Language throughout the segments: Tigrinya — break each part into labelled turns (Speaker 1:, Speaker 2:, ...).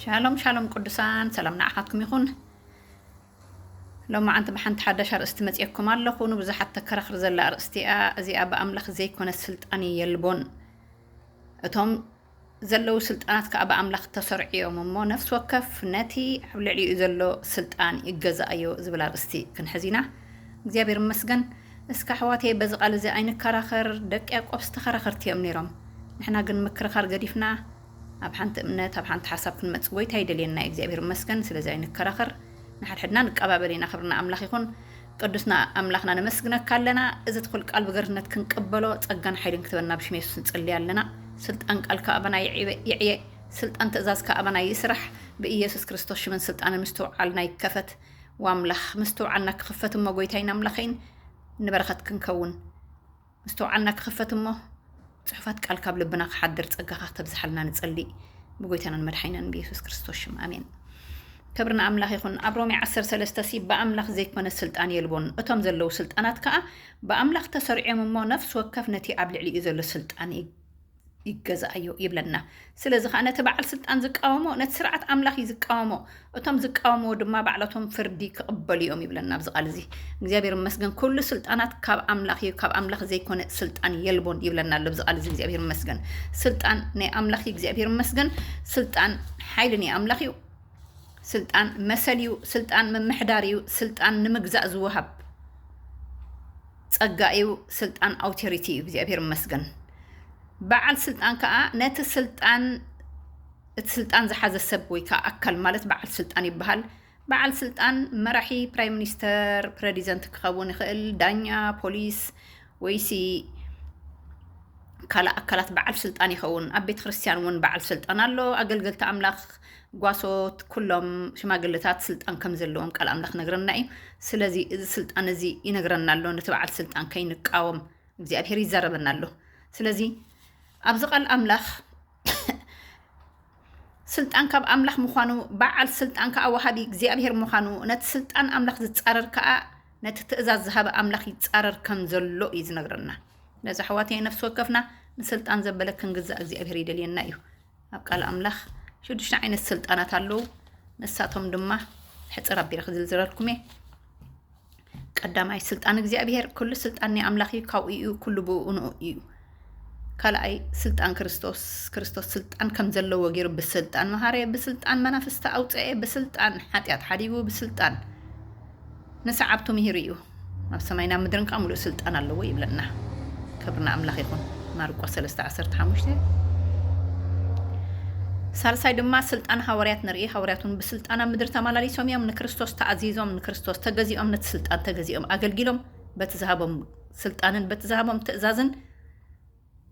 Speaker 1: ሻሎም ሻሎም ቅዱሳን ሰላም ንዓኻትኩም ይኹን ሎማዓንቲ ብሓንቲ ሓዳሽ ኣርእስቲ መፅኤኩም ኣለኹ ንብዙሓት ተከራኽር ዘላ ኣርእስቲ እያ እዚኣ ብኣምላኽ ዘይኮነ ስልጣን የልቦን እቶም ዘለዉ ስልጣናት ከዓ ብኣምላኽ ተሰርዑ እዮም እሞ ነፍሲ ወከፍ ነቲ ኣብ ልዕሊኡ ዘሎ ስልጣን ይገዛእዮ ዝብል ኣርእስቲ ክንሕዝ ኢና እግዚኣብሔር ይመስገን እስከ ኣሕዋተየ በዚ ቃል እዚ ኣይንከራኸር ደቂ ያቆብስ ተኸራኸርቲ እዮም ነይሮም ንሕና ግን ምክርኻር ገዲፍና ኣብ ሓንቲ እምነት ኣብ ሓንቲ ሓሳብ ክንመጽእ ጎይታ ይደልየና እዩ እግዚኣብሔር ይመስገን ስለዚ ኣይንከራኸር ንሓድሕድና ንቀባበል ኢና ክብርና ኣምላኽ ይኹን ቅዱስና ኣምላኽና ነመስግነካ ኣለና እዚ ትኹል ቃል ብገርነት ክንቀበሎ ጸጋን ሓይልን ክትበና ብሽም የሱስ ንጽልይ ኣለና ስልጣን ቃልካ ኣባና ይዕየ ስልጣን ትእዛዝካ ኣባና ይስራሕ ብኢየሱስ ክርስቶስ ሽምን ስልጣንን ምስትውዓልና ይከፈት ዋምላኽ ምስትውዓልና ክኽፈት እሞ ጎይታይን ኣምላኸይን ንበረኸት ክንከውን ምስትውዓልና ክኽፈት እሞ ጽሑፋት ቃል ካብ ልብና ክሓድር ጸጋኻ ክተብዝሓልና ንጸሊ ብጎይታናን መድሓይናን ብየሱስ ክርስቶስ ሽም ኣሜን ክብሪ ንኣምላኽ ይኹን ኣብ ሮሜ 13 ሲ ብኣምላኽ ዘይኮነ ስልጣን የልቦን እቶም ዘለዉ ስልጣናት ከዓ ብኣምላኽ ተሰርዕዮም እሞ ነፍሲ ወከፍ ነቲ ኣብ ልዕሊኡ ዘሎ ስልጣን ይገዛኣዮ ይብለና። ስለዚ ኸኣ ነቲ በዓል ስልጣን ዝቃወሞ ነቲ ስርዓት ኣምላኽ እዩ ዝቃወሞ፣ እቶም ዝቃወምዎ ድማ ባዕላቶም ፍርዲ ክቕበሉ እዮም ይብለና ኣብዚ ቃል እዚ። እግዚኣብሔር ይመስገን ኩሉ ስልጣናት ካብ ኣምላኽ እዩ፣ ካብ ኣምላኽ ዘይኮነ ስልጣን የልቦን ይብለና ኣሎ ኣብዚ ቃል እዚ እግዚኣብሔር ይመስገን። ስልጣን ናይ ኣምላኽ እዩ እግዚኣብሔር ይመስገን። ስልጣን ሓይሊ ናይ ኣምላኽ እዩ። ስልጣን መሰል እዩ። ስልጣን ምምሕዳር እዩ። ስልጣን ንምግዛእ ዝወሃብ ጸጋ እዩ ስልጣን ኣውቴሪቲ እዩ እግዚኣብሔር ይመስገን በዓል ስልጣን ከዓ ነቲ ስልጣን እቲ ስልጣን ዝሓዘ ሰብ ወይ ከዓ ኣካል ማለት በዓል ስልጣን ይበሃል በዓል ስልጣን መራሒ ፕራይም ሚኒስተር ፕረዚደንት ክኸውን ይኽእል ዳኛ ፖሊስ ወይሲ ካልእ ኣካላት በዓል ስልጣን ይኸውን ኣብ ቤተ ክርስቲያን እውን በዓል ስልጣን ኣሎ ኣገልገልቲ ኣምላኽ ጓሶት ኩሎም ሽማግለታት ስልጣን ከም ዘለዎም ቃል ኣምላኽ ነግረና እዩ። ስለዚ እዚ ስልጣን እዚ ይነግረና ኣሎ፣ ነቲ በዓል ስልጣን ከይንቃወም እግዚኣብሄር ይዛረበና ኣሎ። ስለዚ ኣብዚ ቃል ኣምላኽ ስልጣን ካብ ኣምላኽ ምዃኑ በዓል ስልጣን ከዓ ወሃቢ እግዚኣብሄር ምዃኑ ነቲ ስልጣን ኣምላኽ ዝፃረር ከዓ ነቲ ትእዛዝ ዝሃበ ኣምላኽ ይፃረር ከም ዘሎ እዩ ዝነግረና። ነዚ ኣሕዋተይ ነፍሲ ወከፍና ንስልጣን ዘበለ ክንግዛእ እግዚኣብሄር ይደልየና እዩ። ኣብ ቃል ኣምላኽ ሽዱሽተ ዓይነት ስልጣናት ኣለዉ ንሳቶም ድማ ሕፅር ኣቢለ ክዝርዝረልኩም እየ ቀዳማይ ስልጣን እግዚኣብሔር ኩሉ ስልጣን ናይ ኣምላኽ እዩ ካብኡ እዩ ኩሉ ብኡ ንኡ እዩ ካልኣይ ስልጣን ክርስቶስ ክርስቶስ ስልጣን ከም ዘለዎ ገይሩ ብስልጣን መሃረ ብስልጣን መናፍስቲ ኣውፀኤ ብስልጣን ሓጢኣት ሓዲጉ ብስልጣን ንሰዓብቱ ምሂሩ እዩ ኣብ ሰማይን ኣብ ምድርን ከኣ ምሉእ ስልጣን ኣለዎ ይብለና ክብሪ ንኣምላኽ ይኹን ማርቆስ ሰለስተ ዓሰርተ ሓሙሽተ ሳልሳይ ድማ ስልጣን ሃዋርያት ንርኢ ሃዋርያት እውን ብስልጣን ኣብ ምድሪ ተመላሊሶም እዮም ንክርስቶስ ተኣዚዞም ንክርስቶስ ተገዚኦም ነቲ ስልጣን ተገዚኦም ኣገልጊሎም በቲ ዝሃቦም ስልጣንን በቲ ዝሃቦም ትእዛዝን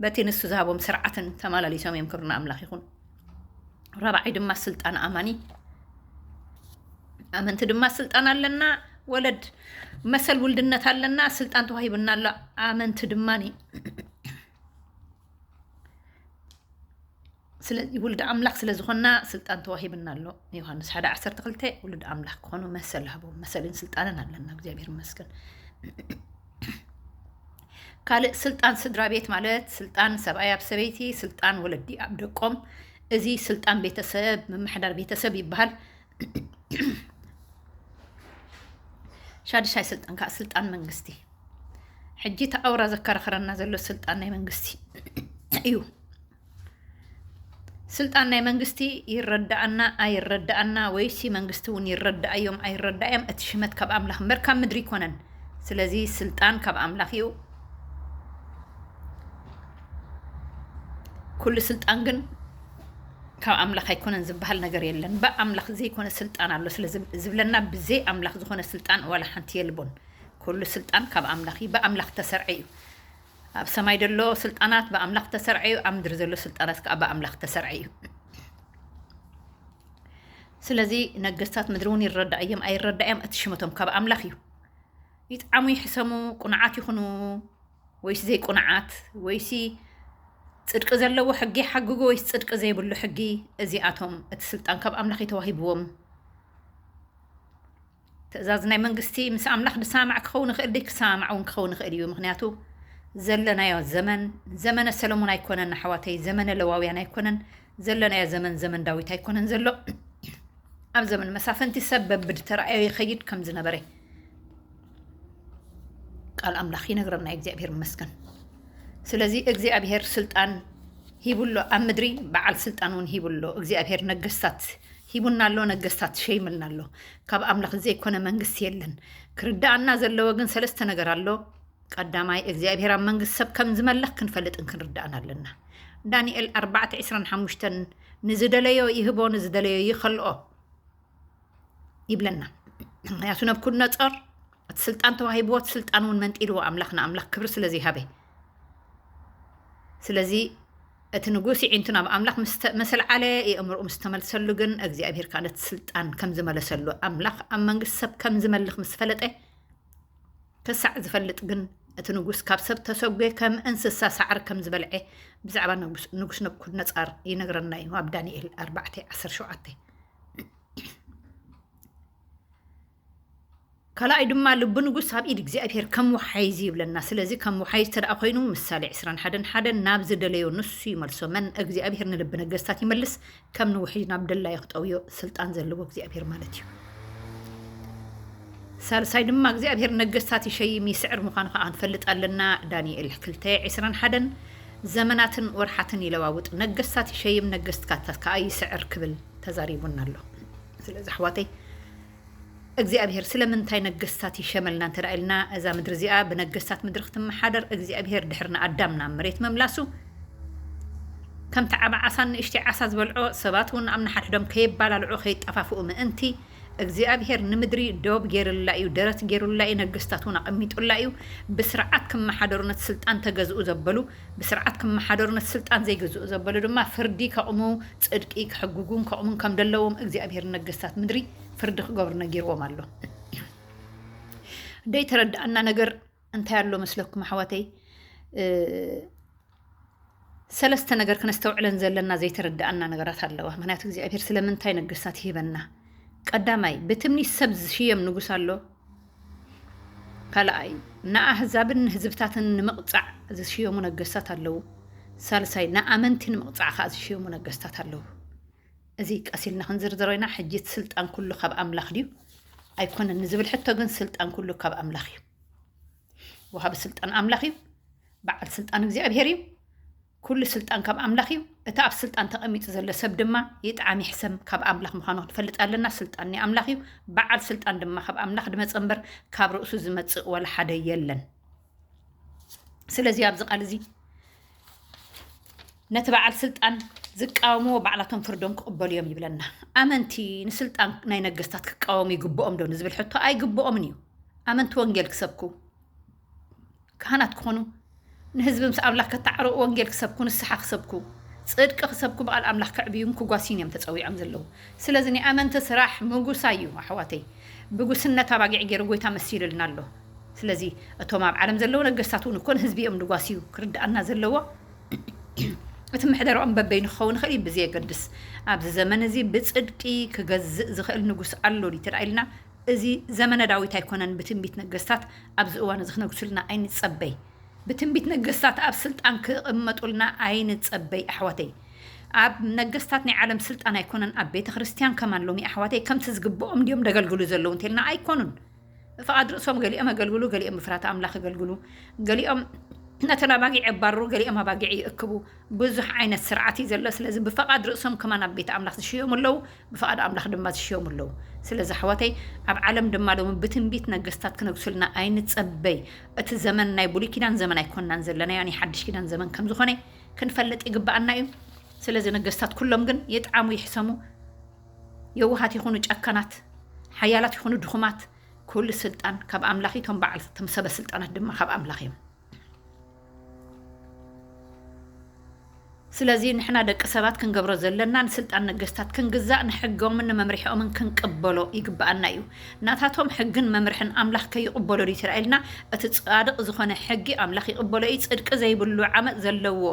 Speaker 1: በቲ ንሱ ዝሃቦም ስርዓትን ተማላሊሶም እዮም ክብርና ኣምላኽ ይኹን። ራብዓይ ድማ ስልጣን ኣማኒ ኣመንቲ ድማ ስልጣን ኣለና ወለድ መሰል ውልድነት ኣለና ስልጣን ተዋሂብና ኣሎ ኣመንቲ ድማ ስለዚ ውሉድ ኣምላኽ ስለ ዝኾንና ስልጣን ተዋሂብና ኣሎ። ዮሃንስ ሓደ ዓሰርተ ክልተ ውሉድ ኣምላኽ ክኾኑ መሰል ሃቦም። መሰልን ስልጣንን ኣለና። እግዚኣብሔር ይመስገን። ካልእ ስልጣን ስድራ ቤት ማለት ስልጣን ሰብኣይ ኣብ ሰበይቲ፣ ስልጣን ወለዲ ኣብ ደቆም፣ እዚ ስልጣን ቤተሰብ ምምሕዳር ቤተሰብ ይበሃል። ሻድሻይ ስልጣን ከዓ ስልጣን መንግስቲ ሕጂ ተኣውራ ዘከራኸረና ዘሎ ስልጣን ናይ መንግስቲ እዩ። ስልጣን ናይ መንግስቲ ይረዳኣና ኣይረዳኣና ወይሲ መንግስቲ እውን ይረዳኣዮም ኣይረዳኣዮም እቲ ሽመት ካብ ኣምላኽ እምበር ካብ ምድሪ ይኮነን ስለዚ ስልጣን ካብ ኣምላኽ እዩ ኩሉ ስልጣን ግን ካብ ኣምላኽ ኣይኮነን ዝበሃል ነገር የለን ብኣምላኽ ዘይኮነ ስልጣን ኣሎ ስለዝብለና ብዘይ ኣምላኽ ዝኾነ ስልጣን ዋላ ሓንቲ የልቦን ኩሉ ስልጣን ካብ ኣምላኽ እዩ ብኣምላኽ ተሰርዐ እዩ ኣብ ሰማይ ዘሎ ስልጣናት ብኣምላኽ እተሰርዐ እዩ፣ ኣብ ምድሪ ዘሎ ስልጣናት ከኣ ብኣምላኽ እተሰርዐ እዩ። ስለዚ ነገስታት ምድሪ እውን ይረዳእዮም ኣይረዳእዮም እቲ ሽመቶም ካብ ኣምላኽ እዩ። ይጥዓሙ ይሕሰሙ፣ ቁኑዓት ይኹኑ ወይስ ዘይቁኑዓት፣ ወይሲ ጽድቂ ዘለዎ ሕጊ ይሓግጉ ወይስ ጽድቂ ዘይብሉ ሕጊ፣ እዚኣቶም እቲ ስልጣን ካብ ኣምላኽ እዩ ተዋሂብዎም። ትእዛዝ ናይ መንግስቲ ምስ ኣምላኽ ድሳማዕ ክኸውን ይኽእል ድዩ ክሳማማዕ ውን ክኸውን ይኽእል እዩ ምኽንያቱ ዘለናዮ ዘመን ዘመነ ሰለሙን ኣይኮነን ኣሕዋተይ ዘመነ ለዋውያን ኣይኮነን ዘለናዮ ዘመን ዘመን ዳዊት ኣይኮነን ዘሎ ኣብ ዘመን መሳፍንቲ ሰብ በብድ ተራእዮ ይኸይድ ከም ዝነበረ ቃል ኣምላኽ ይነግረና እዩ እግዚኣብሄር መስገን ስለዚ እግዚኣብሄር ስልጣን ሂብሎ ኣብ ምድሪ በዓል ስልጣን እውን ሂብሎ እግዚኣብሄር ነገስታት ሂቡና ኣሎ ነገስታት ሸይምልና ኣሎ ካብ ኣምላኽ ዘይኮነ መንግስቲ የለን ክርዳኣና ዘለዎ ግን ሰለስተ ነገር ኣሎ ቀዳማይ እግዚኣብሔር ኣብ መንግስቲ ሰብ ከም ዝመለኽ ክንፈልጥን ክንርዳእን ኣለና ዳንኤል 4:25 ንዝደለዮ ይህቦ ንዝደለዮ ይኸልኦ ይብለና ምክንያቱ ነብኩድነፆር እቲ ስልጣን ተዋሂብዎ እቲ ስልጣን እውን መንጢልዎ ኣምላኽ ንኣምላኽ ክብሪ ስለ ዘይሃበ ስለዚ እቲ ንጉስ ይዒንቱ ናብ ኣምላኽ መሰልዓለ የእምርኡ ምስ ተመልሰሉ ግን እግዚኣብሄር ከዓ ነቲ ስልጣን ከም ዝመለሰሉ ኣምላኽ ኣብ መንግስቲ ሰብ ከም ዝመልኽ ምስ ፈለጠ ክሳዕ ዝፈልጥ ግን እቲ ንጉስ ካብ ሰብ ተሰጎ ከም እንስሳ ሳዕሪ ከም ዝበልዐ ብዛዕባ ንጉስ ነብኩድነፃር ይነግረና እዩ ኣብ ዳንኤል 4 17 ካልኣይ ድማ ልቢ ንጉስ ኣብ ኢድ እግዚኣብሄር ከም ወሓይዝ እዩ ይብለና ስለዚ ከም ወሓይዝ ተደኣ ኮይኑ ምሳሌ ዕስራን ሓደን ሓደ ናብ ዝደለዮ ንሱ ይመልሶ መን እግዚኣብሄር ንልቢ ነገስታት ይመልስ ከም ንውሕጅ ናብ ደላዮ ክጠውዮ ስልጣን ዘለዎ እግዚኣብሄር ማለት እዩ ሳልሳይ ድማ እግዚኣብሄር ነገስታት ይሸይም ይስዕር ምዃኑ ከዓ ንፈልጥ ኣለና ዳንኤል ክልተ ዕስራን ሓደን ዘመናትን ወርሓትን ይለዋውጥ ነገስታት ይሸይም ነገስትካታት ከዓ ይስዕር ክብል ተዛሪቡና ኣሎ ስለዚ ኣሕዋተይ እግዚኣብሄር ስለምንታይ ነገስታት ይሸመልና እንተ ኢልና እዛ ምድሪ እዚኣ ብነገስታት ምድሪ ክትመሓደር እግዚኣብሄር ድሕሪ ንኣዳም ናብ መሬት ምምላሱ ከምቲ ዓቢ ዓሳን ንእሽተይ ዓሳ ዝበልዖ ሰባት እውን ኣብ ንሓድሕዶም ከየባላልዑ ከይጠፋፍኡ ምእንቲ እግዚኣብሄር ንምድሪ ዶብ ገይርላ እዩ ደረት ገይሩላ እዩ ነገስታት እውን ኣቐሚጡላ እዩ ብስርዓት ክመሓደሩ ነቲ ስልጣን ተገዝኡ ዘበሉ ብስርዓት ክመሓደሩ ነቲ ስልጣን ዘይግዝኡ ዘበሉ ድማ ፍርዲ ከቑሙ ጽድቂ ክሕግጉን ከቑሙን ከም ደለዎም እግዚኣብሄር ንነገስታት ምድሪ ፍርዲ ክገብሩ ነጊርዎም ኣሎ። ደይ ተረዳኣና ነገር እንታይ ኣሎ መስለኩም ኣሕዋተይ? ሰለስተ ነገር ክነስተውዕለን ዘለና ዘይተረዳኣና ነገራት ኣለዋ። ምክንያቱ እግዚኣብሄር ስለምንታይ ነገስታት ይህበና? ቀዳማይ ብትምኒት ሰብ ዝሽየም ንጉስ ኣሎ። ካልኣይ፣ ንኣህዛብን ንህዝብታትን ንምቕጻዕ ዝሽየሙ ነገስታት ኣለዉ። ሳልሳይ፣ ንኣመንቲ ንምቕጻዕ ከኣ ዝሽየሙ ነገስታት ኣለዉ። እዚ ቀስ ኢልና ክንዝርዝሮ ኢና። ሕጂ እቲ ስልጣን ኩሉ ካብ ኣምላኽ ድዩ ኣይኮነን ንዝብል ሕቶ ግን ስልጣን ኩሉ ካብ ኣምላኽ እዩ። ወሃቢ ስልጣን ኣምላኽ እዩ። በዓል ስልጣን እግዚኣብሄር እዩ። ኩሉ ስልጣን ካብ ኣምላኽ እዩ፣ እቲ ኣብ ስልጣን ተቐሚጡ ዘሎ ሰብ ድማ ይጥዓም ይሕሰም ካብ ኣምላኽ ምዃኑ ክንፈልጥ ኣለና፣ ስልጣን ናይ ኣምላኽ እዩ፣ በዓል ስልጣን ድማ ካብ ኣምላኽ ድመጸ እምበር ካብ ርእሱ ዝመጽእ ወላ ሓደ የለን። ስለዚ ኣብዚ ቃል እዚ ነቲ በዓል ስልጣን ዝቃወምዎ ባዕላቶም ፍርዶም ክቕበሉ እዮም ይብለና። ኣመንቲ ንስልጣን ናይ ነገስታት ክቃወሙ ይግብኦም ዶ ንዝብል ሕቶ ኣይግብኦምን እዩ። ኣመንቲ ወንጌል ክሰብኩ ካህናት ክኾኑ ንህዝቢ ምስ ኣምላኽ ከተዓርቑ ወንጌል ክሰብኩ ንስሓ ክሰብኩ ጽድቂ ክሰብኩ ብቓል ኣምላኽ ከዕብዩን ክጓስዩን እዮም ተጸዊዖም ዘለዉ ስለዚ ናይ ኣመንቲ ስራሕ ምጉሳይ እዩ ኣሕዋተይ ብጉስነት ኣባጊዕ ጌሩ ጎይታ መሲሉልና ኣሎ ስለዚ እቶም ኣብ ዓለም ዘለዉ ነገስታት እውን እኮ ንህዝቢ እዮም ድጓስዩ ክርድኣና ዘለዎ እቲ ምሕደራኦም በበይኑ ክኸውን ይኽእል እዩ ብዘየገድስ ኣብዚ ዘመን እዚ ብጽድቂ ክገዝእ ዝኽእል ንጉስ ኣሎ ድዩ እንተ ኢልና እዚ ዘመነ ዳዊት ኣይኮነን ብትንቢት ነገስታት ኣብዚ እዋን እዚ ክነግሱልና ኣይንጸበይ ብትንቢት ነገስታት ኣብ ስልጣን ክቅመጡልና ኣይንጸበይ ኣሕዋተይ ኣብ ነገስታት ናይ ዓለም ስልጣን ኣይኮነን ኣብ ቤተ ክርስትያን ከማን ሎሚ ኣሕዋተይ ከምቲ ዝግብኦም እንዲዮም ደገልግሉ ዘለዉ እንተልና ኣይኮኑን ፍቓድ ርእሶም ገሊኦም ኣገልግሉ ገሊኦም ብፍራት ኣምላኽ ኣገልግሉ ገሊኦም ነተን ኣባጊዕ የባርሩ ገሊኦም ኣባጊዕ ይእክቡ ብዙሕ ዓይነት ስርዓት እዩ ዘሎ ስለዚ ብፍቓድ ርእሶም ከማን ኣብ ቤት ኣምላኽ ዝሽየሙ ኣለዉ ብፍቓድ ኣምላኽ ድማ ዝሽየሙ ኣለዉ። ስለዚ ኣሕዋተይ ኣብ ዓለም ድማ ሎሚ ብትንቢት ነገስታት ክነግሱልና ኣይንጸበይ። እቲ ዘመን ናይ ብሉይ ኪዳን ዘመን ኣይኮናን ዘለናዮ ናይ ሓድሽ ኪዳን ዘመን ከም ዝኾነ ክንፈልጥ ይግብኣና እዩ። ስለዚ ነገስታት ኩሎም ግን ይጥዓሙ ይሕሰሙ የዋሃት ይኹኑ ጨካናት፣ ሓያላት ይኹኑ ድኹማት ኩሉ ስልጣን ካብ ኣምላኽ እዩ፣ እቶም በዓል እቶም ሰበ ስልጣናት ድማ ካብ ኣምላኽ እዮም። ስለዚ ንሕና ደቂ ሰባት ክንገብሮ ዘለና ንስልጣን ነገስታት ክንግዛእ ንሕጎምን ንመምርሒኦምን ክንቅበሎ ይግብኣና እዩ። ናታቶም ሕግን መምርሕን ኣምላኽ ከይቕበሎ ድዩ ተራእየልና? እቲ ጻድቕ ዝኾነ ሕጊ ኣምላኽ ይቕበሎ እዩ። ጽድቂ ዘይብሉ ዓመጽ ዘለዎ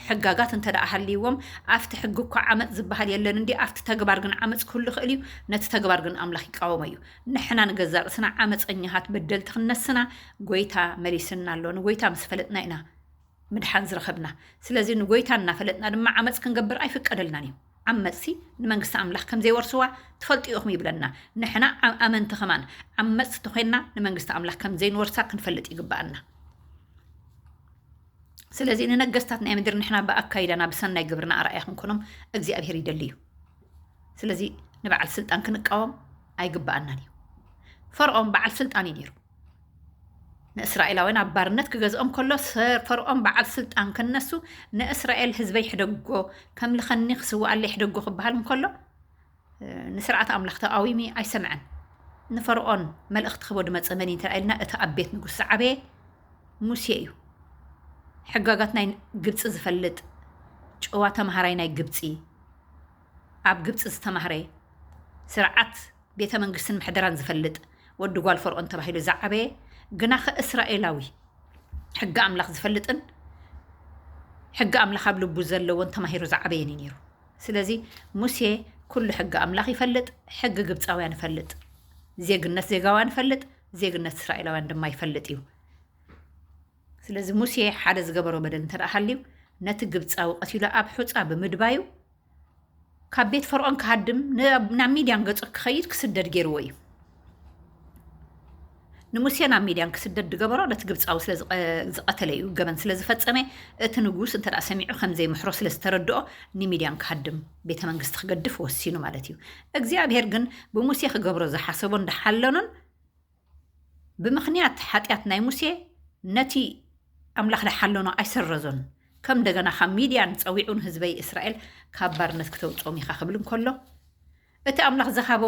Speaker 1: ሕጋጋት እንተደኣ ሃልይዎም ኣብቲ ሕጊ እኳ ዓመጽ ዝበሃል የለን እንድዩ ኣብቲ ተግባር ግን ዓመጽ ክህሉ ይኽእል እዩ። ነቲ ተግባር ግን ኣምላኽ ይቃወሞ እዩ። ንሕና ንገዛእ ርእስና ዓመጸኛሃት በደልቲ ክንነስና ጎይታ መሊስና ኣሎ። ንጎይታ ምስ ፈለጥና ኢና ምድሓን ዝረኸብና። ስለዚ ንጎይታ እናፈለጥና ድማ ዓመጽ ክንገብር ኣይፍቀደልናን እዩ። ዓመጽቲ ንመንግስቲ ኣምላኽ ከም ዘይወርስዋ ትፈልጡ ኢኹም ይብለና። ንሕና ዓ ኣመንቲ ከማን ዓመጽቲ ተኾይንና ንመንግስቲ ኣምላኽ ከም ዘይንወርሳ ክንፈልጥ ይግብኣና። ስለዚ ንነገስታት ናይ ምድሪ ንሕና ብኣካይዳና ብሰናይ ግብርና ኣርኣያ ክንኮኖም እግዚኣብሄር ይደሊ እዩ። ስለዚ ንበዓል ስልጣን ክንቃወም ኣይግብኣናን እዩ። ፈርዖን በዓል ስልጣን እዩ ነይሩ። ንእስራኤላውያን ኣብ ባርነት ክገዝኦም ከሎ ፈርዖን በዓል ስልጣን ክነሱ ንእስራኤል ህዝበይ ሕደጎ ከምልኸኒ ክስዋኣለይ ሕደጎ ክበሃል እንከሎ ንስርዓት ኣምላኽ ተቃዊሚ ኣይሰምዐን። ንፈርዖን መልእኽቲ ክህቦ ድመፀ መን እዩ እንተኢልና እቲ ኣብ ቤት ንጉስ ዝዓበየ ሙሴ እዩ ሕጋጋት ናይ ግብጺ ዝፈልጥ ጭዋ ተማሃራይ ናይ ግብጺ ኣብ ግብጺ ዝተማህረ ስርዓት ቤተ መንግስትን ምሕደራን ዝፈልጥ ወዲ ጓል ፈርኦን ተባሂሉ ዝዓበየ ግናኸ እስራኤላዊ ሕጊ ኣምላኽ ዝፈልጥን ሕጊ ኣምላኽ ኣብ ልቡ ዘለዎን ተማሂሩ ዝዓበየን እዩ ነይሩ ስለዚ ሙሴ ኩሉ ሕጊ ኣምላኽ ይፈልጥ ሕጊ ግብፃውያን ይፈልጥ ዜግነት ዜጋውያን ይፈልጥ ዜግነት እስራኤላውያን ድማ ይፈልጥ እዩ። ስለዚ ሙሴ ሓደ ዝገበሮ በደል እንተ ሃልዩ ነቲ ግብፃዊ ቀቲሉ ኣብ ሑፃ ብምድባዩ ካብ ቤት ፈርዖን ክሃድም ናብ ሚድያን ገፁ ክኸይድ ክስደድ ገይርዎ እዩ ንሙሴ ናብ ሚድያን ክስደድ ዝገበሮ ነቲ ግብፃዊ ስለዝቐተለ እዩ ገበን ስለዝፈፀመ እቲ ንጉስ እንተ ሰሚዑ ከምዘይምሕሮ ስለዝተረድኦ ንሚድያን ክሃድም ቤተ መንግስቲ ክገድፍ ወሲኑ ማለት እዩ። እግዚኣብሔር ግን ብሙሴ ክገብሮ ዝሓሰቦን ድሓለኖን ብምኽንያት ሓጢኣት ናይ ሙሴ ነቲ ኣምላኽ ድሓለኖ ኣይሰረዞን። ከም እንደገና ካብ ሚድያን ጸዊዑን ህዝበይ እስራኤል ካብ ባርነት ክተውጾም ኢኻ ክብል እንከሎ እቲ ኣምላኽ ዝሃቦ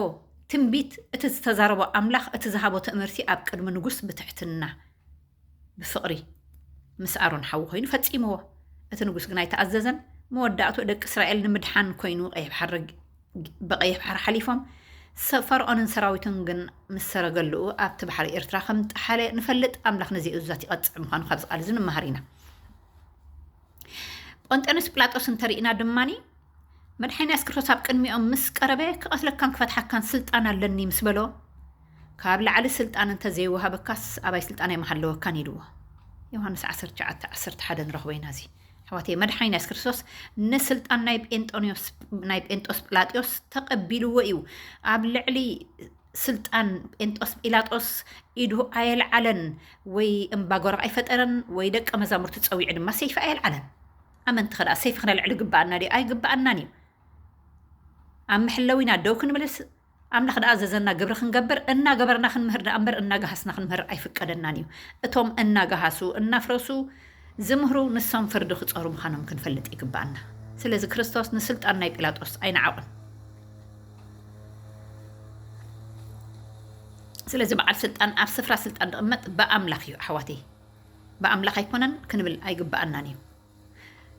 Speaker 1: ትንቢት እቲ ዝተዛረቦ ኣምላኽ እቲ ዝሃቦ ትእምርቲ ኣብ ቅድሚ ንጉስ ብትሕትና ብፍቕሪ ምስ ኣሮን ሓዉ ኮይኑ ፈጺምዎ። እቲ ንጉስ ግን ኣይተኣዘዘን። መወዳእትኡ ደቂ እስራኤል ንምድሓን ኮይኑ ብቐይሕ ባሕሪ ሓሊፎም። ፈርዖንን ሰራዊቱን ግን ምስ ሰረገሉኡ ኣብቲ ባሕሪ ኤርትራ ከም ጠሓለ ንፈልጥ። ኣምላኽ ነዚ እዙዛት ይቐጽዕ ምዃኑ ካብዚ ቃል እዚ ንመሃር ኢና። ጶንጤኖስ ጲላጦስ እንተሪእና ድማ መድሓኒ የሱስ ክርስቶስ ኣብ ቅድሚኦም ምስ ቀረበ ክቐትለካን ክፈትሓካን ስልጣን ኣለኒ ምስ በሎ ካብ ላዕሊ ስልጣን እንተ ዘይወሃበካስ ኣባይ ስልጣነይ ምሃለወካን ኢልዎ። ዮሃንስ 19:11 ንረኽቦ ኢና እዚ ኣሕዋተይ መድሓኒ የሱስ ክርስቶስ ንስልጣን ናይ ጴንጦንዮስ ናይ ጴንጦስ ጲላጢዮስ ተቐቢልዎ እዩ ኣብ ልዕሊ ስልጣን ጴንጦስ ጲላጦስ ኢዱ ኣየልዓለን ወይ እምባጎራ ኣይፈጠረን ወይ ደቀ መዛሙርቲ ፀዊዑ ድማ ሰይፊ ኣየልዓለን ኣመንቲ ከዳኣ ሰይፊ ክነልዕል ይግበኣና ድዩ ኣይግበኣናን እዩ ኣብ መሕለዊ ኢና ደው ክንብልስ ኣምላኽ ደኣ ዘዘና ግብሪ ክንገብር እናገበርና ክንምህር ደኣ እምበር እናገሃስና ክንምህር ኣይፍቀደናን እዩ እቶም እናገሃሱ እናፍረሱ ዝምህሩ ንሶም ፍርዲ ክፀሩ ምዃኖም ክንፈልጥ ይግበኣና ስለዚ ክርስቶስ ንስልጣን ናይ ጲላጦስ ኣይነዓቑን ስለዚ በዓል ስልጣን ኣብ ስፍራ ስልጣን ዝቕመጥ ብኣምላኽ እዩ ኣሕዋተይ ብኣምላኽ ኣይኮነን ክንብል ኣይግብኣናን እዩ።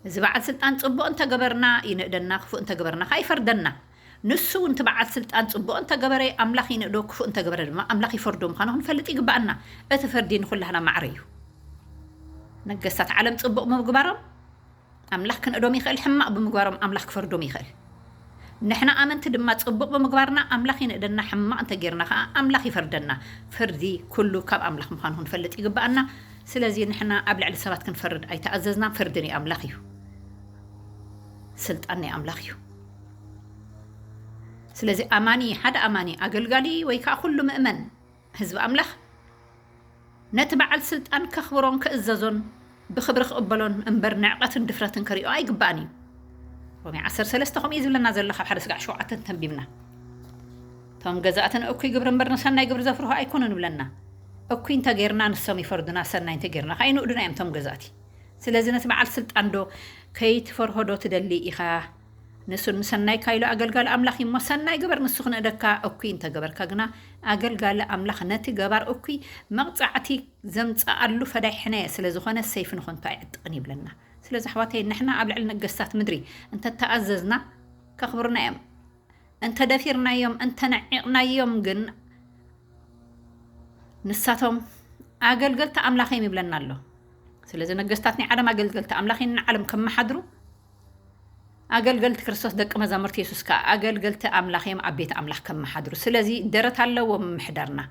Speaker 1: እዚ በዓል ስልጣን ጽቡቕ እንተ ገበርና ይንእደና ክፉእ እንተ ገበርና ከኣ ይፈርደና። ንሱ እውን እቲ በዓል ስልጣን ጽቡቕ እንተ ገበረ ኣምላኽ ይንእዶ ክፉእ እንተ ገበረ ድማ ኣምላኽ ይፈርዶ ምዃኑ ክንፈልጥ ይግብኣና። እቲ ፍርዲ ንኹላህና ማዕረ እዩ። ነገስታት ዓለም ጽቡቕ ብምግባሮም፣ ኣምላኽ ክንእዶም ይኽእል ሕማቕ ብምግባሮም ኣምላኽ ክፈርዶም ይኽእል ንሕና ኣመንቲ ድማ ጽቡቕ ብምግባርና ኣምላኽ ይንእደና ሕማቕ እንተ ጌርና ከኣ ኣምላኽ ይፈርደና ፍርዲ ኩሉ ካብ ኣምላኽ ምዃኑ ክንፈልጥ ይግብኣና ስለዚ ንሕና ኣብ ልዕሊ ሰባት ክንፈርድ ኣይተኣዘዝናን ፍርዲ ናይ ኣምላኽ እዩ ስልጣን ናይ ኣምላኽ እዩ ስለዚ ኣማኒ ሓደ ኣማኒ ኣገልጋሊ ወይ ከኣ ኩሉ ምእመን ህዝቢ ኣምላኽ ነቲ በዓል ስልጣን ከኽብሮን ክእዘዞን ብኽብሪ ክቕበሎን እምበር ንዕቐትን ድፍረትን ክሪኦ ኣይግባእን እዩ። ሮሜ ዓሰርተ ሰለስተ ከምኡ እዩ ዝብለና ዘሎ ካብ ሓደ ስጋዕ ሸውዓተ እንተንቢብና እቶም ገዛእቲ ንእኩይ ግብሪ እምበር ንሰናይ ግብሪ ዘፍርሁ ኣይኮኑን ይብለና። እኩይ እንተጌርና ንሶም ይፈርዱና፣ ሰናይ እንተጌርና ከኣ ይንእዱና እዮም እቶም ገዛእቲ። ስለዚ ነቲ በዓል ስልጣን ዶ ከይትፈርሆ ዶ ትደሊ ኢኻ? ንሱ ንሰናይካ ኢሉ ኣገልጋሊ ኣምላኽ እዩ እሞ ሰናይ ግበር ንሱ ክነእደካ እኩይ እንተገበርካ ግና ኣገልጋሊ ኣምላኽ ነቲ ገባር እኩይ መቕጻዕቲ ዘምጽኣሉ ፈዳይ ሕነ ስለ ዝኾነ ሰይፊ ንኾንቱ ኣይዕጥቕን ይብለና ስለዚ ኣሕዋተይ ንሕና ኣብ ልዕሊ ነገስታት ምድሪ እንተተኣዘዝና ከኽብሩና እዮም እንተደፊርናዮም እንተነዒቕናዮም ግን ንሳቶም ኣገልገልቲ ኣምላኽ እዮም ይብለና ኣሎ ስለዚ ነገስታት ናይ ዓለም ኣገልገልቲ ኣምላኽ ንዓለም ከመሓድሩ ኣገልገልቲ ክርስቶስ ደቂ መዛሙርቲ የሱስ ከኣ ኣገልገልቲ ኣምላኽ እዮም ኣብ ቤት ኣምላኽ ከመሓድሩ ስለዚ ደረት ኣለዎም ምምሕዳርና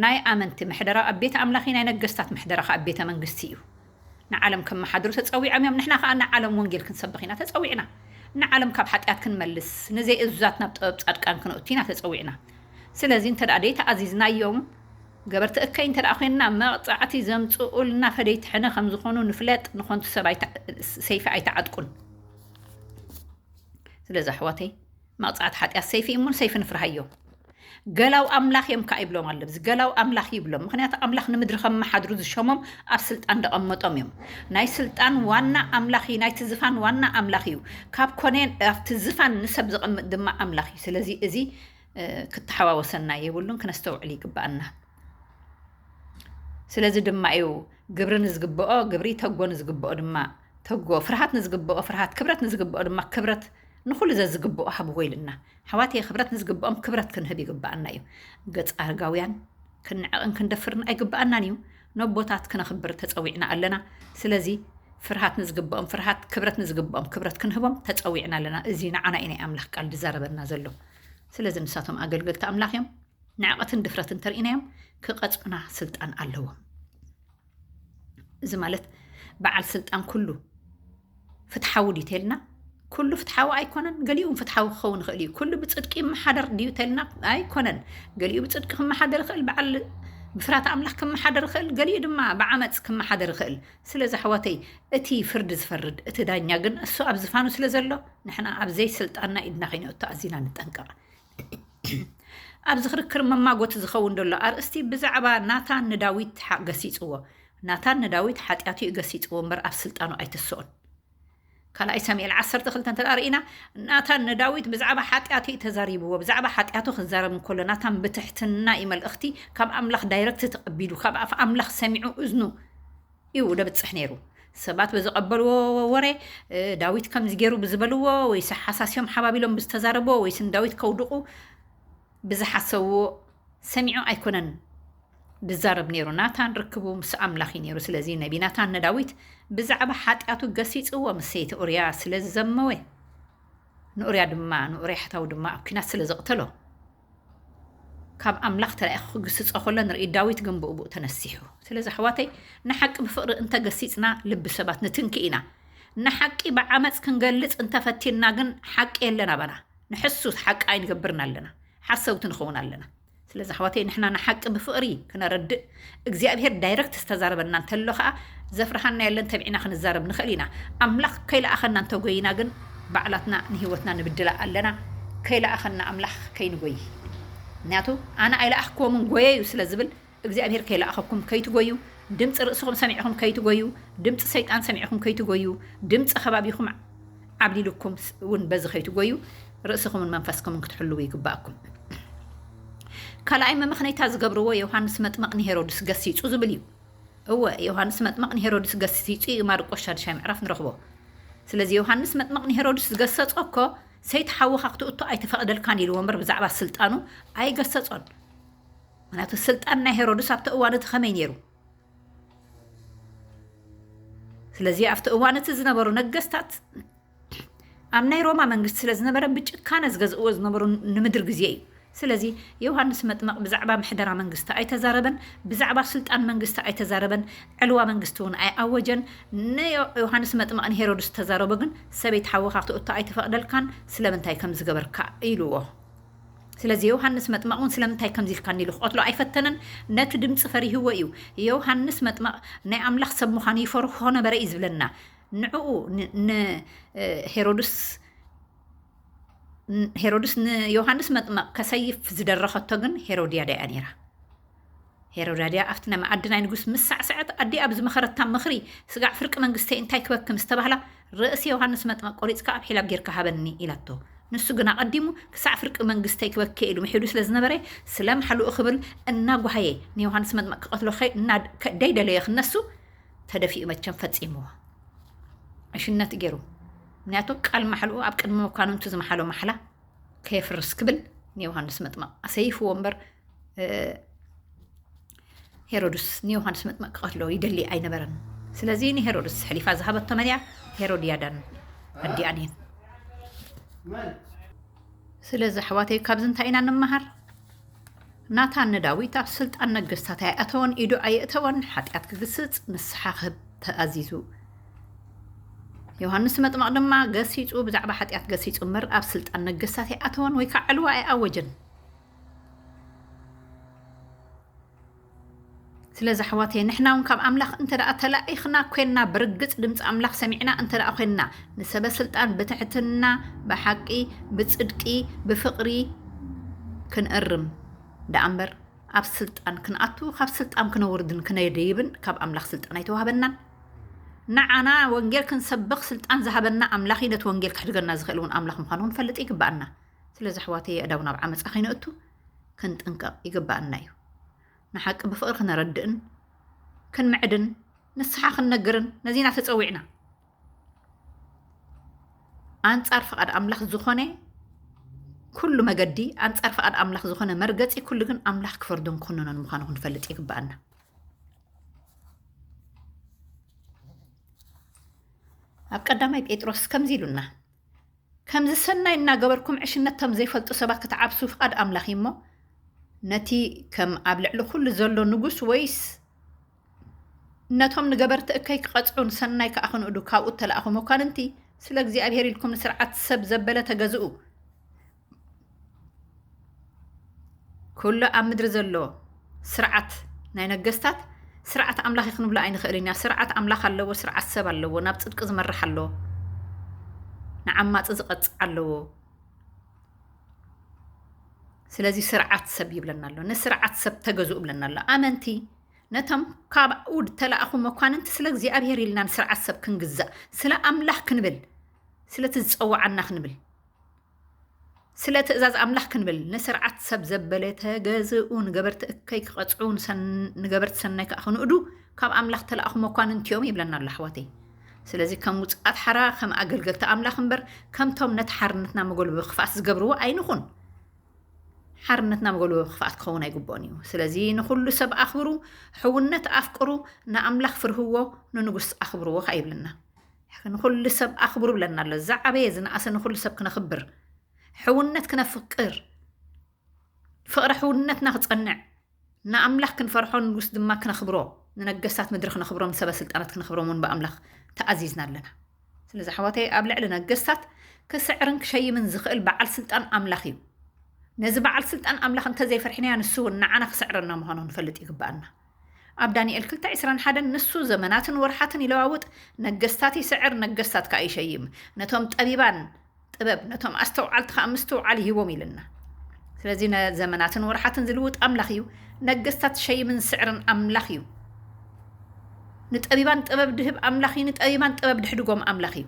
Speaker 1: ናይ ኣመንቲ ምሕደራ ኣብ ቤት ኣምላኽ እዩ ናይ ነገስታት ምሕደራ ከኣ ቤተ መንግስቲ እዩ ንዓለም ከመሓድሩ ተጸዊዖም እዮም ንሕና ከኣ ንዓለም ወንጌል ክንሰብኽ ኢና ተጸዊዕና ንዓለም ካብ ሓጢኣት ክንመልስ ንዘይእዙዛት ናብ ጥበብ ጻድቃን ክነእቱ ኢና ተጸዊዕና ስለዚ እንተ ደኣ ደይተኣዚዝናዮም ገበርቲ እከይ እንተደኣ ኮይንና መቕጻዕቲ ዘምጽኡልና ፈደይቲ ሕነ ከም ዝኾኑ ንፍለጥ፣ ንኾንቱ ሰብ ሰይፊ ኣይትዓጥቁን። ስለዚ ኣሕዋተይ መቕጻዕቲ ሓጢኣት ሰይፊ እሙን ሰይፊ ንፍርሃዮ። ገላው ኣምላኽ እዮም ከዓ ይብሎም ኣሎ ብዚ ገላው ኣምላኽ ይብሎም ምክንያቱ ኣምላኽ ንምድሪ ከመሓድሩ ዝሸሞም ኣብ ስልጣን ደቐመጦም እዮም ናይ ስልጣን ዋና ኣምላኽ እዩ ናይቲ ዝፋን ዋና ኣምላኽ እዩ ካብ ኮነ ኣብቲ ዝፋን ንሰብ ዘቐምጥ ድማ ኣምላኽ እዩ ስለዚ እዚ ክተሓዋወሰና የብሉን፣ ክነስተውዕል ይግባኣና። ስለዚ ድማ እዩ ግብሪ ንዝግብኦ ግብሪ፣ ተጎ ንዝግብኦ ድማ ተጎ፣ ፍርሃት ንዝግብኦ ፍርሃት፣ ክብረት ንዝግብኦ ድማ ክብረት ንኹሉ ዘዝግብኦ ሃብዎ ኢልና ኣሕዋት ክብረት ንዝግብኦም ክብረት ክንህብ ይግባኣና እዩ። ገጽ ኣርጋውያን ክንዕቕን ክንደፍርን ኣይግባኣናን እዩ። ነቦታት ክነኽብር ተፀዊዕና ኣለና። ስለዚ ፍርሃት ንዝግብኦም ፍርሃት፣ ክብረት ንዝግብኦም ክብረት ክንህቦም ተፀዊዕና ኣለና። እዚ ንዓና እዩ ናይ ኣምላኽ ቃል ዝዛረበና ዘሎ። ስለዚ ንሳቶም ኣገልገልቲ ኣምላኽ እዮም። ንዕቐትን ድፍረትን ተርእናዮም ክቐጽዑና ስልጣን ኣለዎም። እዚ ማለት በዓል ስልጣን ኩሉ ፍትሓዊ ድዩ ተልና ኩሉ ፍትሓዊ ኣይኮነን፣ ገሊኡ ፍትሓዊ ክኸውን ይኽእል እዩ። ኩሉ ብፅድቂ ይመሓደር ድዩ ተልና ኣይኮነን፣ ገሊኡ ብፅድቂ ክመሓደር ይኽእል፣ በዓል ብፍራት ኣምላኽ ክመሓደር ይኽእል፣ ገሊኡ ድማ ብዓመፅ ክመሓደር ይኽእል። ስለዚ ኣሕዋተይ እቲ ፍርዲ ዝፈርድ እቲ ዳኛ ግን እሱ ኣብ ዝፋኑ ስለ ዘሎ ንሕና ኣብ ዘይስልጣንና ኢድና ከይነእቱ ኣዚና ንጠንቀቕ። ኣብዚ ክርክር መማጎቲ ዝኸውን ዘሎ ኣርእስቲ ብዛዕባ ናታን ንዳዊት ገሲጽዎ። ናታን ንዳዊት ሓጢኣቱ እዩ ገሲጽዎ እምበር ኣብ ስልጣኑ ኣይትስኦን። ካልኣይ ሰሙኤል ዓሰርተ ክልተ እንተ ርኢና ናታን ንዳዊት ብዛዕባ ሓጢኣቱ እዩ ተዛሪብዎ። ብዛዕባ ሓጢኣቱ ክዛረብ እንከሎ ናታን ብትሕትና እዩ መልእኽቲ ካብ ኣምላኽ ዳይረክት ተቐቢሉ ካብ ኣፍ ኣምላኽ ሰሚዑ እዝኑ እዩ ደብጽሕ ነይሩ። ሰባት ብዝቐበልዎ ወረ፣ ዳዊት ከምዚ ገይሩ ብዝበልዎ፣ ወይስ ኣሓሳሲዮም ሓባቢሎም ብዝተዛረብዎ፣ ወይስ ንዳዊት ከውድቑ ብዝሓሰብዎ ሰሚዑ ኣይኮነን ድዛረብ ነይሩ ናታን ርክቡ ምስ ኣምላኽ እዩ ነይሩ ስለዚ ነቢ ናታን ንዳዊት ብዛዕባ ሓጢኣቱ ገሲጽዎ ምስ ሰይቲ ኡርያ ስለ ዝዘመወ ንኡርያ ድማ ንኡርያ ሕታዊ ድማ ኣብ ኲናት ስለ ዘቕተሎ ካብ ኣምላኽ ተላኢኹ ክግስጾ ከሎ ንርኢ ዳዊት ግን ብኡብኡ ተነሲሑ። ስለዚ ኣሕዋተይ ንሓቂ ብፍቕሪ እንተ ገሲጽና ልቢ ሰባት ንትንኪ ኢና። ንሓቂ ብዓመጽ ክንገልጽ እንተ ፈቲንና ግን ሓቂ የለን ኣባና። ንሕሱ ሓቂ ኣይንገብርን ኣለና። ሓሰውቲ ንኸውን ኣለና። ስለዚ ኣሕዋተይ ንሕና ንሓቂ ብፍቕሪ ክነረድእ እግዚኣብሄር ዳይረክት ዝተዛረበና እንተሎ ከኣ ዘፍርሃና የለን ተቢዕና ክንዛረብ ንኽእል ኢና። ኣምላኽ ከይለኣኸና እንተጎይና ግን ባዕላትና ንህይወትና ንብድላ ኣለና። ከይለኣኸና ኣምላኽ ከይንጎይ ምክንያቱ ኣነ ኣይለኣኽክዎምን ጎየዩ ስለ ዝብል እግዚኣብሄር ከይለኣኸኩም ከይትጎዩ ድምፂ ርእስኹም ሰሚዕኹም ከይትጎዩ ድምፂ ሰይጣን ሰሚዕኹም ከይትጎዩ ድምፂ ከባቢኹም ዓብሊሉኩም ውን በዚ ከይትጎዩ ርእስኹምን መንፈስኩምን ክትሕልዉ ይግባኣኩም። ካልኣይ መመኽነይታ ዝገብርዎ ዮውሃንስ መጥመቕ ንሄሮድስ ገሲጹ ዝብል እዩ። እወ ዮውሃንስ መጥመቕ ንሄሮድስ ገሲጹ እዩ ማርቆስ ሻድሻይ ምዕራፍ ንረኽቦ። ስለዚ ዮውሃንስ መጥመቕ ንሄሮድስ ዝገሰጾ እኮ ሰይቲ ሓውኻ ክትእቶ ኣይተፈቕደልካን ኢልዎ እምበር ብዛዕባ ስልጣኑ ኣይገሰጾን። ምክንያቱ ስልጣን ናይ ሄሮድስ ኣብቲ እዋን እቲ ከመይ ነይሩ? ስለዚ ኣብቲ እዋን እቲ ዝነበሩ ነገስታት ኣብ ናይ ሮማ መንግስቲ ስለ ዝነበረ ብጭካነ ዝገዝእዎ ዝነበሩ ንምድሪ ግዜ እዩ ስለዚ ዮሃንስ መጥመቕ ብዛዕባ ምሕደራ መንግስቲ ኣይተዛረበን ብዛዕባ ስልጣን መንግስቲ ኣይተዛረበን ዕልዋ መንግስቲ እውን ኣይኣወጀን ንዮሃንስ መጥመቕ ንሄሮድስ ተዛረቦ ግን ሰበይቲ ሓወኻ ክትእቶ ኣይተፈቕደልካን ስለምንታይ ከም ዝገበርካ ኢልዎ ስለዚ ዮውሃንስ መጥመቕ እውን ስለምንታይ ከምዚ ኢልካ ኒሉ ክቐትሎ ኣይፈተነን? ነቲ ድምጺ ፈሪህዎ እዩ። ዮውሃንስ መጥመቕ ናይ ኣምላኽ ሰብ ምዃኑ ይፈርሆ ነበረ እዩ ዝብለና። ንዕኡ ንሄሮድስ ሄሮድስ ንዮውሃንስ መጥመቕ ከሰይፍ ዝደረኸቶ ግን ሄሮድያዳ እያ ነይራ። ሄሮዳድያ ኣብቲ ናይ መኣዲ ናይ ንጉስ ምስ ሳዕሰዐት ኣዲኣ ብ ዝመኸረታ ምኽሪ ስጋዕ ፍርቂ መንግስተይ እንታይ ክበኪ ምስ ተባህላ ርእሲ ዮሃንስ መጥመቅ ቆሪጽካ ኣብ ሒላብ ጌርካ ሃበኒ ኢላቶ ንሱ ግን ኣቀዲሙ ክሳዕ ፍርቂ መንግስተይ ክበኪ ኢሉ ምሒሉ ስለ ዝነበረ ስለ ምሓሉኡ ክብል እና ጓሃየ ንዮሃንስ መጥመቅ ክቀትሎ እና ደይ ደለዮ ክነሱ ተደፊኡ መቸም ፈጺምዎ ዕሽነት ጌሩ ምክንያቱ ቃል ማሕልኡ ኣብ ቅድሚ መኳንንቱ ዝመሓሎ ማሕላ ከየፍርስ ክብል ንዮሃንስ መጥመቅ ኣሰይፍዎ እምበር ሄሮድስ ንዮሃንስ መጥመቅ ክቐትሎ ይደሊ ኣይነበረን። ስለዚ ንሄሮድስ ሕሊፋ ዝሃበቶ መን እያ? ሄሮድያዳን ኣዲኣን እየን። ስለዚ ኣሕዋተይ ካብዚ እንታይ ኢና ንመሃር? ናታን ንዳዊት ኣብ ስልጣን ነገስታት ኣይኣተወን፣ ኢዱ ኣየእተወን፣ ሓጢኣት ክግስጽ ንስሓ ክህብ ተኣዚዙ። ዮሃንስ መጥመቕ ድማ ገሲጹ ብዛዕባ ሓጢኣት ገሲጹ እምበር ኣብ ስልጣን ነገስታት ኣይኣተወን ወይ ከዓ ዕልዋ ኣይኣወጀን። ስለዚ ኣሕዋተየ ንሕና እውን ካብ ኣምላኽ እንተ ተላኢኽና ኮንና ብርግፅ ድምፂ ኣምላኽ ሰሚዕና እንተ ኮንና ንሰበ ስልጣን ብትሕትና ብሓቂ ብፅድቂ ብፍቕሪ ክንእርም ደኣ እምበር ኣብ ስልጣን ክንኣቱ ካብ ስልጣን ክነውርድን ክነድይብን ካብ ኣምላኽ ስልጣን ኣይተዋህበናን ንዓና ወንጌል ክንሰብኽ ስልጣን ዝሃበና ኣምላኽ እዩ ነቲ ወንጌል ክሕድገና ዝኽእል እውን ኣምላኽ ምዃኑ ክንፈልጥ ይግባኣና ስለዚ ኣሕዋተይ የእዳው ናብ ዓመጻ ከይነእቱ ክንጥንቀቕ ይግብኣና እዩ። ንሓቂ ብፍቕሪ ክነረድእን ክንምዕድን ንስሓ ክንነግርን ነዚና ተጸዊዕና። ኣንጻር ፍቓድ ኣምላኽ ዝኾነ ኩሉ መገዲ ኣንጻር ፍቓድ ኣምላኽ ዝኾነ መርገጺ ኩሉ ግን ኣምላኽ ክፈርዶን ክኹንኖን ምዃኑ ክንፈልጥ ይግብኣና። ኣብ ቀዳማይ ጴጥሮስ ከምዚ ኢሉና ከምዚ ሰናይ እናገበርኩም ዕሽነት እቶም ዘይፈልጡ ሰባት ክትዓብሱ ፍቓድ ኣምላኽ እዩ እሞ ነቲ ከም ኣብ ልዕሊ ኩሉ ዘሎ ንጉስ ወይስ ነቶም ንገበርቲ እከይ ክቐጽዑን ሰናይ ከኣ ክንእዱ ካብኡ እተላእኹ መኳንንቲ ስለ እግዚኣብሄር ኢልኩም ንስርዓት ሰብ ዘበለ ተገዝኡ ኩሉ ኣብ ምድሪ ዘሎ ስርዓት ናይ ነገስታት ስርዓት ኣምላኽ እዩ ክንብሎ ኣይንኽእልን ኢና ስርዓት ኣምላኽ ኣለዎ ስርዓት ሰብ ኣለዎ ናብ ፅድቂ ዝመርሕ ኣለዎ ንዓማፂ ዝቐፅዕ ኣለዎ ስለዚ ስርዓት ሰብ ይብለና ኣሎ ንስርዓት ሰብ ተገዝኡ ብለና ኣሎ ኣመንቲ ነቶም ካብኡ ተላእኹ መኳንንቲ ስለ እግዚኣብሄር ኢልና ንስርዓት ሰብ ክንግዛእ ስለ ኣምላኽ ክንብል ስለቲ ዝፀዋዓና ክንብል ስለ ትእዛዝ ኣምላኽ ክንብል ንስርዓት ሰብ ዘበለ ተገዝኡ ንገበርቲ እከይ ክቐፅዑ ንገበርቲ ሰናይ ከዓ ክንእዱ ካብ ኣምላኽ ተለኣኹ መኳንንቲ እዮም ይብለና ኣሎ ኣሕዋተይ ስለዚ ከም ውፅኣት ሓራ ከም ኣገልገልቲ ኣምላኽ እምበር ከምቶም ነቲ ሓርነትና መጎልበቢ ክፍኣት ዝገብርዎ ኣይንኹን ሓርነትና መጎልበቢ ክፍኣት ክኸውን ኣይግብኦን እዩ ስለዚ ንኩሉ ሰብ ኣኽብሩ ሕውነት ኣፍቅሩ ንኣምላኽ ፍርህዎ ንንጉስ ኣኽብርዎ ከዓ ይብለና ንኹሉ ሰብ ኣኽብሩ ብለና ኣሎ። ዝዓበየ ዝነኣሰ ንኹሉ ሰብ ክነኽብር፣ ሕውነት ክነፍቅር፣ ፍቕረ ሕውነትና ክጸንዕ፣ ንኣምላኽ ክንፈርሖ ንጉስ ድማ ክነኽብሮ፣ ንነገስታት ምድሪ ክነኽብሮም፣ ሰበ ስልጣናት ክነኽብሮም እውን ብኣምላኽ ተኣዚዝና ኣለና። ስለዚ ኣሕዋተይ ኣብ ልዕሊ ነገስታት ክስዕርን ክሸይምን ዝኽእል በዓል ስልጣን ኣምላኽ እዩ። ነዚ በዓል ስልጣን ኣምላኽ እንተዘይፈርሕናዮ ንሱ እውን ንዓና ክስዕረና ምዃኑ ክንፈልጥ ይግብኣና። ኣብ ዳንኤል ክልተ ዕስራን ሓደን ንሱ ዘመናትን ወርሓትን ይለዋውጥ፣ ነገስታት ይስዕር፣ ነገስታት ከኣ ይሸይም፣ ነቶም ጠቢባን ጥበብ፣ ነቶም ኣስተውዓልቲ ከኣ ምስትውዓል ይህቦም ኢሉና። ስለዚ ዘመናትን ወርሓትን ዝልውጥ ኣምላኽ እዩ፣ ነገስታት ዝሸይምን ዝስዕርን ኣምላኽ እዩ። ንጠቢባን ጥበብ ድህብ ኣምላኽ እዩ፣ ንጠቢባን ጥበብ ድሕድጎም ኣምላኽ እዩ።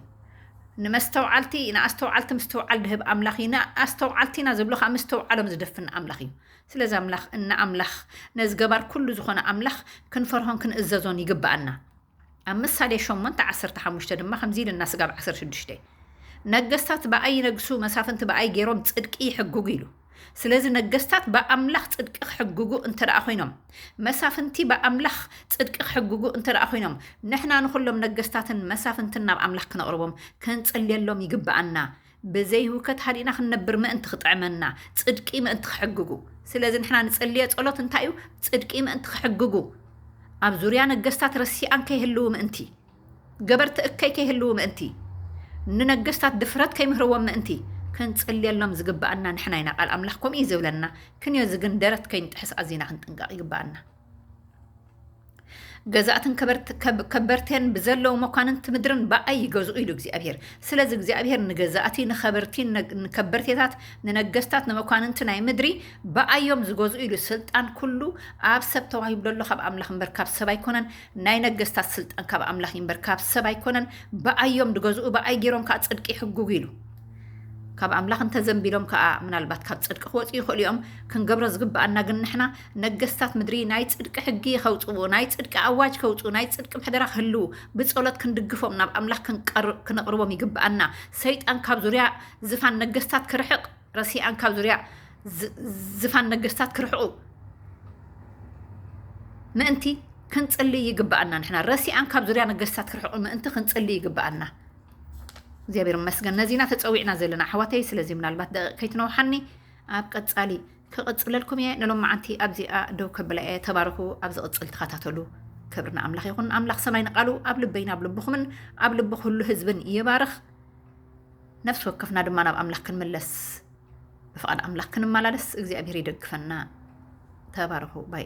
Speaker 1: ንመስተውዓልቲ ንኣስተውዓልቲ ምስትውዓል ድህብ ኣምላኽ እዩ፣ ንኣስተውዓልቲና ዝብሎ ከኣ ምስትውዓሎም ዝደፍን ኣምላኽ እዩ። ስለዚ ኣምላኽ እንኣምላኽ ነዚ ገባር ኩሉ ዝኾነ ኣምላኽ ክንፈርሆን ክንእዘዞን ይግብኣና። ኣብ ምሳሌ ሸሞንተ ዓሰርተ ሓሙሽተ ድማ ከምዚ ኢሉና ስጋብ ዓሰርተ ሽዱሽተ ነገስታት ብኣይ ይነግሱ መሳፍንቲ ብኣይ ገይሮም ጽድቂ ይሕግጉ ኢሉ። ስለዚ ነገስታት ብኣምላኽ ጽድቂ ክሕግጉ እንተ ደኣ ኮይኖም መሳፍንቲ ብኣምላኽ ጽድቂ ክሕግጉ እንተ ደኣ ኮይኖም ንሕና ንኹሎም ነገስታትን መሳፍንትን ናብ ኣምላኽ ክነቕርቦም ክንጽልየሎም ይግብኣና። ብዘይ ህውከት ሃዲእና ክንነብር ምእንቲ ክጥዕመና፣ ጽድቂ ምእንቲ ክሕግጉ። ስለዚ ንሕና ንጽልዮ ጸሎት እንታይ እዩ? ጽድቂ ምእንቲ ክሕግጉ፣ ኣብ ዙርያ ነገስታት ረሲኣን ከይህልዉ ምእንቲ፣ ገበርቲ እከይ ከይህልዉ ምእንቲ፣ ንነገስታት ድፍረት ከይምህርዎም ምእንቲ ክንጽልየሎም ዝግብኣና ንሕና ኢና። ቃል ኣምላኽ ከምኡ እዩ ዝብለና። ክንዮ እዚ ግን ደረት ከይንጥሕስ ኣዚና ክንጥንቀቕ ይግብኣና። ገዛእትን ከበርቴን ብዘለዉ መኳንንቲ ምድርን ብኣይ ይገዝኡ ኢሉ እግዚኣብሄር ስለዚ እግዚኣብሄር ንገዛእቲ ንኸበርቲ ንከበርቴታት ንነገስታት ንመኳንንቲ ናይ ምድሪ ብኣዮም ዝገዝኡ ኢሉ ስልጣን ኩሉ ኣብ ሰብ ተዋሂብሎ ኣሎ ካብ ኣምላኽ እምበር ካብ ሰብ ኣይኮነን ናይ ነገስታት ስልጣን ካብ ኣምላኽ እምበር ካብ ሰብ ኣይኮነን ብኣዮም ዝገዝኡ ብኣይ ገይሮም ከዓ ፅድቂ ይሕጉጉ ኢሉ ካብ ኣምላኽ እንተዘንቢሎም ከኣ ምናልባት ካብ ጽድቂ ክወጽኡ ይኽእሉ እዮም። ክንገብሮ ዝግብኣና ግን ንሕና ነገስታት ምድሪ ናይ ጽድቂ ሕጊ ከውጽኡ፣ ናይ ጽድቂ ኣዋጅ ከውጽኡ፣ ናይ ጽድቂ ምሕደራ ክህልው ብጸሎት ክንድግፎም ናብ ኣምላኽ ክንቕርቦም ይግብኣና። ሰይጣን ካብ ዙርያ ዝፋን ነገስታት ክርሕቕ ረሲኣን ካብ ዙርያ ዝፋን ነገስታት ክርሕቑ ምእንቲ ክንጽሊ ይግብኣና። ንሕና ረሲኣን ካብ ዙርያ ነገስታት ክርሕቑ ምእንቲ ክንጽሊ ይግብኣና። እግዚኣብሔር ይመስገን ነዚ ኢና ተፀዊዕና ዘለና ኣሕዋተይ ስለዚ ምናልባት ደቂቅ ከይትነውሓኒ ኣብ ቀፃሊ ክቕፅለልኩም እየ ንሎማዓንቲ ኣብዚኣ ደው ከብላ እየ ተባረኹ ኣብ ዝቕፅል ተኸታተሉ ክብሪ ንኣምላኽ ይኹን ኣምላኽ ሰማይ ንቃሉ ኣብ ልበይን ኣብ ልብኹምን ኣብ ልቢ ኩሉ ህዝብን ይባርኽ ነፍሲ ወከፍና ድማ ናብ ኣምላኽ ክንምለስ ብፍቓድ ኣምላኽ ክንመላለስ እግዚኣብሄር ይደግፈና ተባረኹ ባይ